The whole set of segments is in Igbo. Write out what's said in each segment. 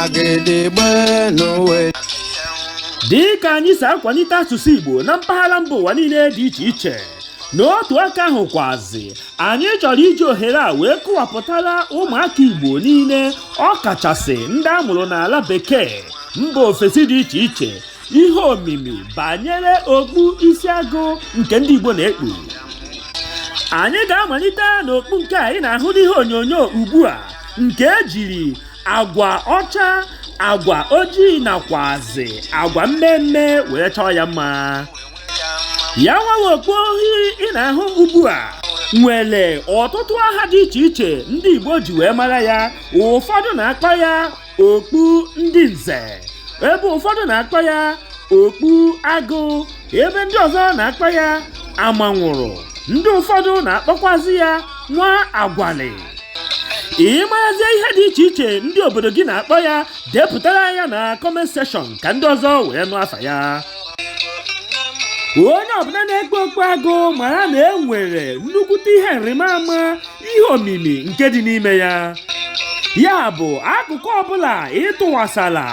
agịdịgbe n'ụwa dị ka anyị si akwalite asụsụ Igbo na mpaghara mba ụwa niile dị iche iche n'otu aka ahụ kwazi anyị chọrọ iji ohere a wee kọwapụtara ụmụaka Igbo niile ọ kachasị ndị a mụrụ n'ala bekee mba ofesi dị iche iche ihe omimi banyere okpu isi agụ nke ndị Igbo na-ekpu anyị ga-amalite n'okpu nke a ị na-ahụ n'ihe onyonyo ugbu a nke ejiri agwa ọcha agwa ojii nakwazị agwa mmee mmee wee chọọ ya mma ya nwa bụ okpu ohiri ị na-ahụ ugbu a nwere ọtụtụ aha dị iche iche ndị Igbo ji wee mara ya ụfọdụ na-akpọ ya okpu ndị nze ebe ụfọdụ na-akpọ ya okpu agụ ebe ndị ọzọ na-akpọ ya amanwụrụ ndị ụfọdụ na-akpọkwazi ya nwa agwalị ị marazie ihe dị iche iche ndị obodo gị na-akpọ ya depụtara anyị ya na comment section ka ndị ọzọ wee nụ afa ya onye ọbụla na-ekpu okpu agụ mara na e nwere nnukwute ihe nrịmama ihe omimi nke dị n'ime ya ya bụ akụkụ ọbụla ị tụkwasala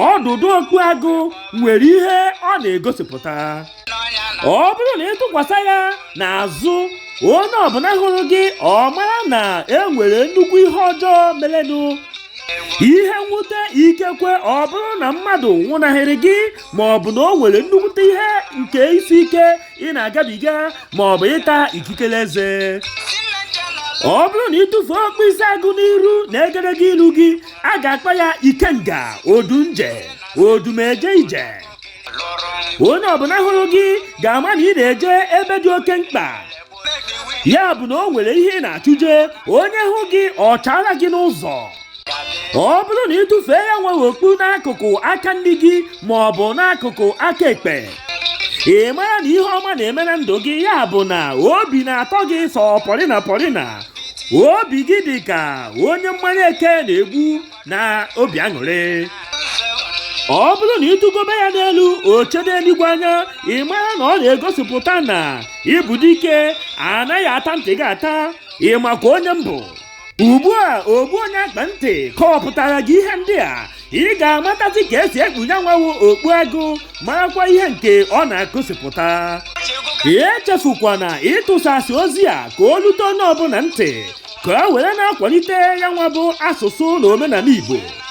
ọdụdụ okpu agụ nwere ihe ọ na-egosipụta ọ bụrụ na ị tụkwasa ya n'azụ onye ọbụla hụrụ gị ọ mara na e nwere nnukwu ihe ọjọọ merenụ ihe mwute ikekwe ọ bụrụ na mmadụ nwụnahịrị gị ma ọ bụ na o nwere nnukwute ihe nke isi ike ị na-agabiga ma ọ bụ ịta ikikere eze ọ bụrụ na ị tụfuo okpu isi agụ n'iru na egedege ilu gị a ga-akpọ ya ikenga odunje odum eje ije onye ọbụla hụrụ gị ga-ama na ị na-eje ebe dị oke mkpa ya bụ na o nwere ihe ị na-achụje onye hụ gị ọ chaara gị n'ụzọ ọ bụrụ na ị tụfee ya nwa bụ okpu n'akụkụ aka nri gị ma ọ bụ n'akụkụ aka ekpe ị mara na ihe ọma na-eme na ndụ gị ya bụ na obi na-atọ gị sọ pọrịna pọrịna obi gị dị ka onye mmanya eke na-egbu na obi aṅụrị ọ bụrụ na ị tụgobe ya n'elu o chedo eluigwe anya ị mara na ọ na-egosipụta na ị bụ dike anaghị ata ntị gị ata ị makwa onye m bụ ugbu a ogbu onye akpa ntị kọwapụtara gị ihe ndị a ị ga-amatazi ka e si ekpu ya nwa bụ okpu agụ marakwa ihe nke ọ na-egosipụta echefukwana ịtụsasị ozi a ka o lute onye ọbụla ntị ka o were na-akwalite ya nwa bụ asụsụ na omenala Igbo